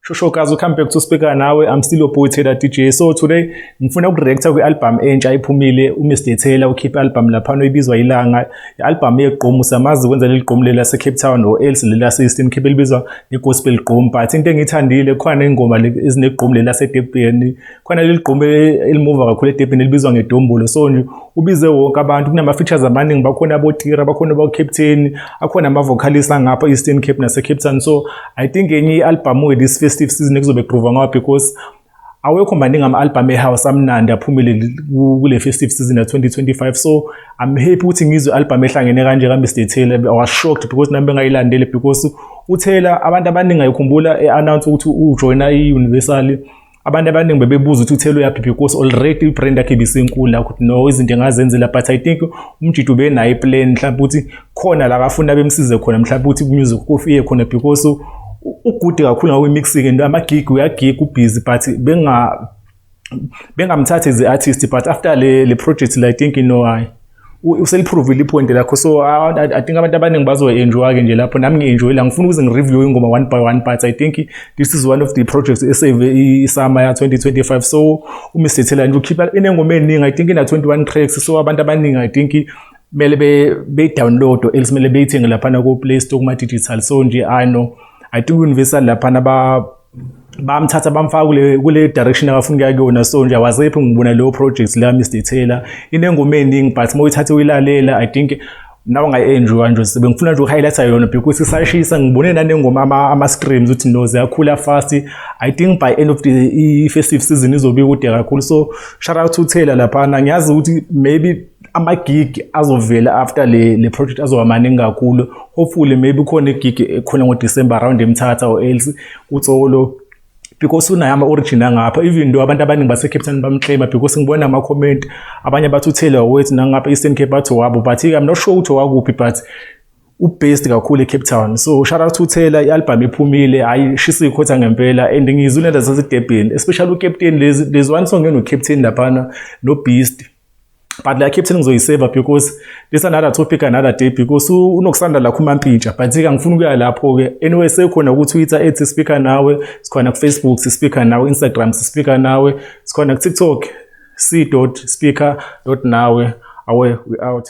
Shosho guys, come back to speaker nawe. I'm still your boy Taylor DJ. So today ngifuna ukureacta kwi-album entsha iphumile uMr Taylor ukhiphe album lapha noyibizwa ilanga. I-album yegqomu samazi kwenza leli gqomu lela se Cape Town or else lela system khiphe libizwa iGospel Gqomu. But into engithandile khona ingoma ezinegqomu lela se Durban khona leli gqumbi elimuva kakhulu edebhini elibizwa ngedombolo so nje ubize wonke abantu kunama-features amaningi bakhona abotira bakhona abocaptain akhona ama-vocalist angapha e-eastern cape nasecape town so i think enye i-albhamu-ke this festive season ekuzobe kugrova ngawo because awekho maningi ama-albhamu ehouse amnandi aphumile kule festive season ya-2025 so i'm happy ukuthi ngizwe i-albhamu ehlangene kanje kamr taylor i was shocked because nami bengayilandele because utaylor abantu abaningi ayikhumbula e-announce ukuthi ujoyina i-universal abantu abaningi bebebuza ukuthi uthelo yaphi because already ibrand yakhe ibisenkulu la ukuthi no izinto engazenzela but i think umjidi ubenayo iplan mhlawumbe ukuthi khona la kafuna bemsize khona mhlawumbe ukuthi umusic kofiye khona because ugude kakhulu ngakwi-mixing and amagig uyagig ubhizi but benga bengamthathi as i-artist but after le, le project la i think inohayi useliphrovile ipoint lakho so I, I think abantu abaningi bazoenjoy-ke nje lapho nami ngi-enjoy la ngifuna ukuze ngireview ingoma one by one but I think this is one of the projects esave isama ya 2025 so uMr Thela nje ukhipha inengoma eningi I think ina 21 tracks so abantu abaningi I think kumele be be download else kumele beyithenge lapha na ku Play Store kuma digital so nje I know I think universal lapha na ba bamthatha bamfaka kule kule direction abafuna ukuya kuyona so nje awazephi ngibona leyo project la Mr Taylor inengoma eningi but uma uyithathe uyilalela i think nawe ngayi-enjoya nje sibe ngifuna nje uku-highlighta yona because isashisa ngibone nanengoma ama-screams ukuthi no ziyakhula fast i think by end of the i-festive season izobe ikude kakhulu so shout out to taylor laphana ngiyazi ukuthi maybe amagig azovela after le le project azoba maningi kakhulu hopefully maybe khona igig ekhona ngoDecember around eMthatha or else kutsolo because unayo ama-origin angapha even though abantu abaningi base-cape town bamclaima because ngibona ama-comment abanye bathi uthele wawethu nangapha eastern cape bathi wabo but i'm not sure ukuthi wakuphi but ubased kakhulu ecape town so shout out to taylor i-albhamu ephumile hhayi shisa ikhotha ngempela and ngizwile zasezidebheni especially ukapteni lezi one song enocaptain laphana nobeast but like captain ngizoyiseva because this another topic another day because unokusanda la khuma mpintsha but ke ngifuna ukuya lapho ke anyway sekhona ku Twitter ethi speaker nawe sikhona ku Facebook si speaker nawe Instagram si speaker nawe sikhona ku TikTok c.speaker.nawe awe we out